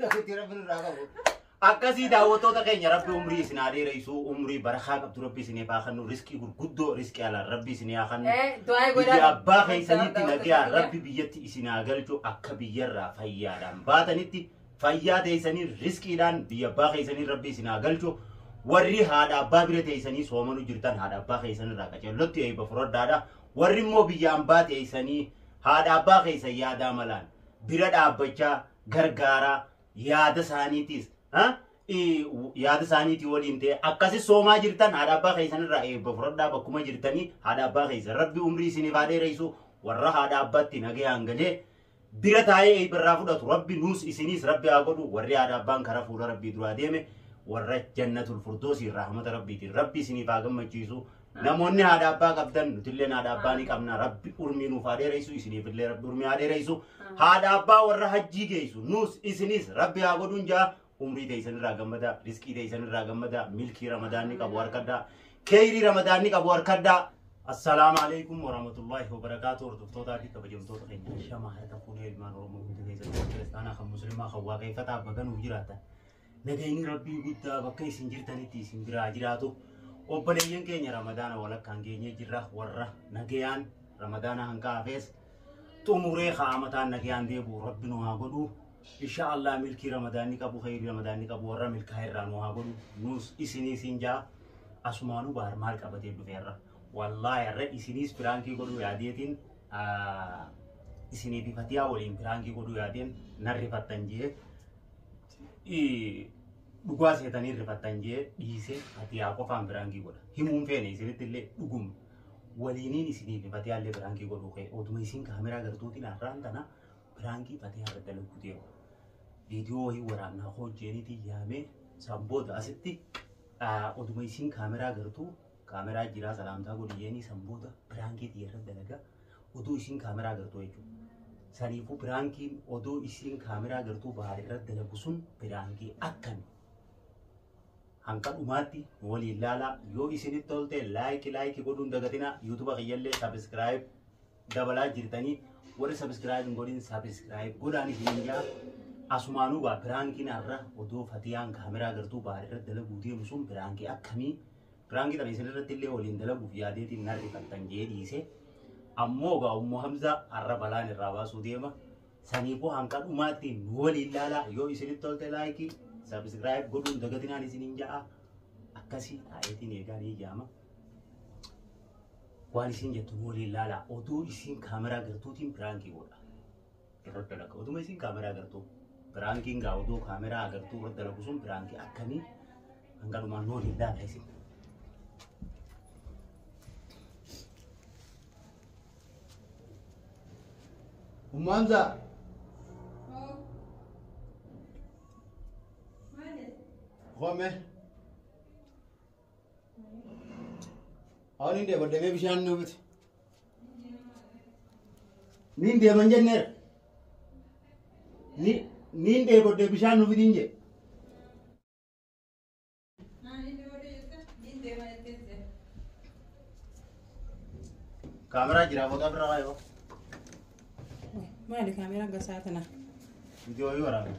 Rabbitti rabbi nurraa qabu. Akkasii daawwattoota keenya rabbi umrii isin haa dheeressu umrii barakaa qabdu rabbi isin haa kennu riskii gurguddoo riskii alaan rabbi isin haa kennu. Eh, du'aa Biyya godhaa. abbaa keessanitti nagaa rabbi biyyatti isin haa galchu akka biyyarraa fayyaadhaan baatanitti fayyaa teessanii riskiidhaan biyya abbaa keessanii rabbi isin haa galchu warri haadha abbaa bira teessanii soomanu jirtan haadha abbaa keessanirraa qacellotti eebba furaddaadha warri immoo biyya ambaa teessanii haadha abbaa keessa yaadaa malaan bira dhaabbachaa gargaaraa yaada isaaniitiis ha? I- w- yaada isaaniitii waliin ta'e akkasi soomaa jirtan haadha abbaa keessan irraa eebba fudhadhaa bakkuma jirtanii haadha abbaa keessan rabbi umrii isiniif haa dheereessu warra haadha abbaatti nagayaan galee bira taa'ee eebba irraa fudhatu rabbi nuus isiniis rabbi haa godhu warri haadha abbaan karaa fuula rabbii duraa deeme warra jannatul furdoosii rahmata rabbiitiin rabbi isiniif haa gammachiisu Namoonni haadha abbaa qabdan nutilleen haadha abbaa ni qabna rabbi urmii nuuf haa dheeressu isiniifillee rabbi urmii haa dheeressu haadha abbaa warra hajjii geessu nuus isinis rabbi haa godhuun jaa umrii teessan irraa gammada riskii teessan irraa gammada milkii ramadaanni qabu harkadhaa keeyrii ramadaanni qabu harkadhaa assalaamu alaikum warahmatullaahi wabarakaatu hordoftootaa fi kabajamtoota keenya shamaa harka fuunee ilmaan oromoo hundi keessatti kiristaanaa kan muslimaa kan waaqeeffataa baganuuf jiraatan Nageenyi Rabbii guddaa bakka isin jirtanitti isin biraa jiraatu. Obboleeyyan keenya Ramadaana walakkaan geenyee jirra warra nagayaan Ramadaana hanqaa hafees xumuree kaa'amataan nagayaan deebi'u Rabbi nu haa godhu. Insha Allah milkii Ramadaanni qabu khayrii Ramadaanni qabu warra milkaa irraa nu haa godhu. Nuus isinii siin jaa asumaanuu baar maal qabatee dhufeerra. Wallaahi irra isiniis piraankii godhuu yaadeetiin isinii bifatiyaa waliin piraankii godhuu yaadeen narrifattan jee. dhugaa seetanii rifattan jee dhiisee fatiyaa qofaan biraankii godha. Himuun feene isinitti illee dhuguma. Waliiniin isiniif fatiyaa illee biraankii godhuu kee oduma isin kaameraa gartuutiin har'aan tana biraankii fatiyaa irra dalaguu deema. Viidiyoo wayii waraannaa koo jeeniitiin yaamee isaan booda asitti oduma isin kaameraa gartuu kaameraa jiraa salaamtaa godhi jeenii isaan booda biraankii xiyya irra dalagaa. Oduu isiin kaameraa agartuu jechuudha. Saniifuu piraankiin oduu isiin kaameraa agartuu bahaar irratti dalagu sun piraankii akkami? Hanga dhumaatti nu waliin laalaa yoo isinitti tolte laayiki laayiki godhuun dagatinaa yuutuba kiyyallee sabiskiraayib dabalaa jirtanii warri sabiskiraayib hin godhin sabiskiraayib godhaan isin jaa asumaanuu gaa piraankiin har'a oduu fatiyaan kaameraa agartuu bahaar irratti dalaguu deemu sun piraankii akkamii? Piraanki tana isin irratti illee waliin dalaguuf yaadeetiin nan rifattan jee dhiise. Ammoo gaa ummu Hamzaa har'a balaan irraa baasuu deema. Saniifuu hanga dhumaatti nu waliin laalaa yoo isinitti tolte laayikii sabiskiraayib godhuun dagatinaan isiniin ja'a. Akkasii taa'eetiin eegaa ni jaama. Waan isin jettu nu waliin laalaa otuu isin kaameraa gartuutiin piraankii godha. irratti dalaga. Otuma isin kaameraa agartuu. Piraankiin gaa odoo kaameraa agartuu irratti dalagu sun piraankii akkamii hanga dhumaa nuu hin laata isin. Ummaanza. Qome. Awwan hin deebadde mee bishaan nuufiti. Niin deeman jenneera. Ni- Niin dheebodde bishaan nu fidiin jedhe. Kaameraa jira booda bira waayoo. Maali kaameraa gasaa tana? Viidiyoo waraabaa.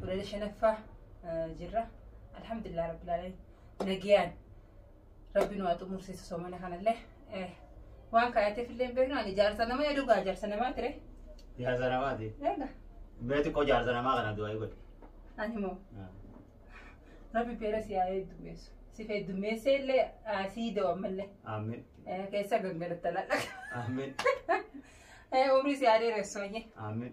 Walala shanaffaa jirra. Alhamdulillah rabbil alamin. Nagiyaan rabbi nu haa xumursiisu soomana kanallee. Waan kaayateef illee hin beeknu ani jaarsa nama yaadu gaa jaarsa namaa ture. Jaarsa namaati. Eega Mee xiqqoo jaarsa namaa kana du'aa godhe. ani moo rabbi beera si haa heddummeessu. Si heddummeessee illee sii da'u ammallee. Amin. Keessa gangalatta lallaqa. Amin. Umrii si haa dheeressu hojii. Amin.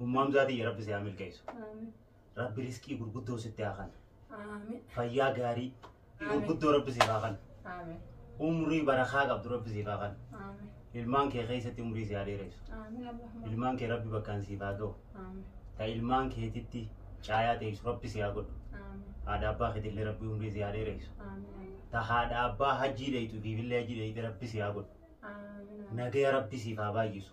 Ummu Hamzaa tiyya rabbi si haa milkeessu. Aamin. Rabbi riskii gurguddoo sitti haa kan. Aamin. Fayyaa gaarii Aamin. gurguddoo rabbi siif haa kan. Aamin. Umrii barakaa qabdu rabbi siif haa kan. Aamin. Ilmaan kee keessatti umrii si haa dheeressu. Aamin. Allahumma. Ilmaan kee rabbi bakkaan siif haa ga'u. Aamin. Ta ilmaan keetitti caayaa teessu rabbi si haa godhu. Aamin. Haadha abbaa keetillee rabbi umrii si haa dheeressu. Aamin. Ta haadha abbaa hajjii dheeytu fiifillee hajjii dheeyte rabbi si haa godhu. Aamin. Nagaya rabbi siif haa baay'isu.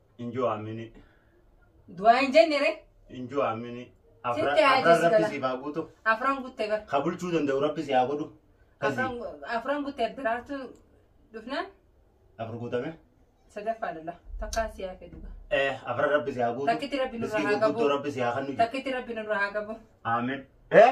Injoo Amini. Du'aa hin jenne ree. Injoo Amini. Sitti haa Afran jessisu rabbi gala. siif haa guutu. Afran gutte bar. Ka bulchuu danda'u rabbi si haa godhu. Kasi Afran- Afran gutte diraartu dhufnaan afur guutame. sadaffaa lalla. Takkaa si haa fedhu. Eh, afran rabbi si haa guutu. Takkitti rabbi nurraa Miskiin haa qabu. gurguddoo rabbi si haa kennu. Takkitti rabbi nurraa haa qabu. Amen. Eh?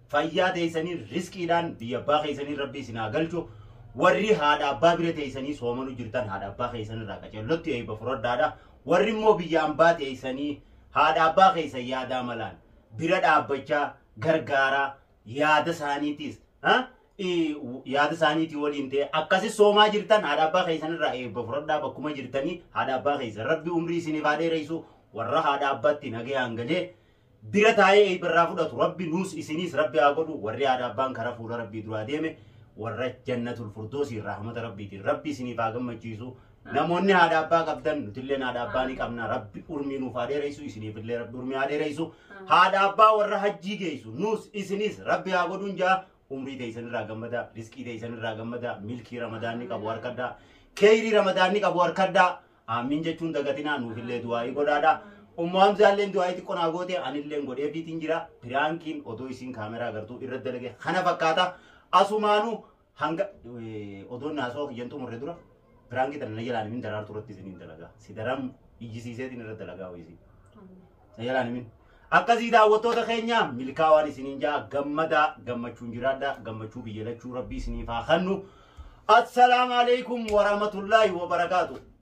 Fayyaa teeysanii risqiidhaan biyya abbaa keeysanii rabbii isin haa galchu. Warri haadha abbaa bira teeysanii soomanu jirtan haadha abbaa keeysan irraa qacellotti eeyba furadhaadha. Warri immoo biyya ambaa teeysanii haadha abbaa keeysan yaadaa malaan bira dhaabbachaa gargaaraa yaada isaaniitiis ha? I- w- yaada isaaniitii waliin ta'e akkasi soomaa jirtan haadha abbaa keeysan irraa eebba furadhaa bakkuma jirtanii haadha abbaa keeysan rabbi umrii isiniif haa dheereysu warra haadha abbaatti nagayaan galee bira taa'ee eeyba irraa fudhatu rabbi nuus isiniis rabbi haa godhu warri haadha abbaan karaa fuula rabbii duraa deeme warra jannatul furdoosiin rahmata rabbiitiin rabbi isiniif haa gammachiisu namoonni haadha abbaa qabdan nutilleen haadha abbaa ni qabna rabbi urmii nuuf haa dheereysu isiniifillee rabbi urmii haa dheereysu haadha abbaa warra hajjii geeysu nuus isiniis rabbi haa godhuun jaa umrii teeysan irraa gammada riskii teeysan irraa gammada milkii ramadaanni qabu harkadhaa keeyrii ramadaanni qabu harkadhaa Aamiin jechuun dagatinaa nuufillee du'aa'ii godhaadha. Ummu Hamzaalleen du'aa'ii xiqqoo naa goote anilleen godheefiitiin jira. Piraankiin odoo isiin kaameraa agartuu irra dalage kana fakkaata. Asumaanu hanga odoon naasoo kiyyan xumurre dura piraankii tana na jalaan himin daraartuu irratti isiniin dalagaa. Si daram iyyisiiseetiin irra dalagaa wayisii. Na jalaan himin. Akkasii daawwattoota keenya milkaawaan isiniin ja'a gammadaa gammachuun jiraadha gammachuu biyya lachuu rabbii isiniif haa kennu. Assalaamu alaikum warahmatullaahi wabarakaatu.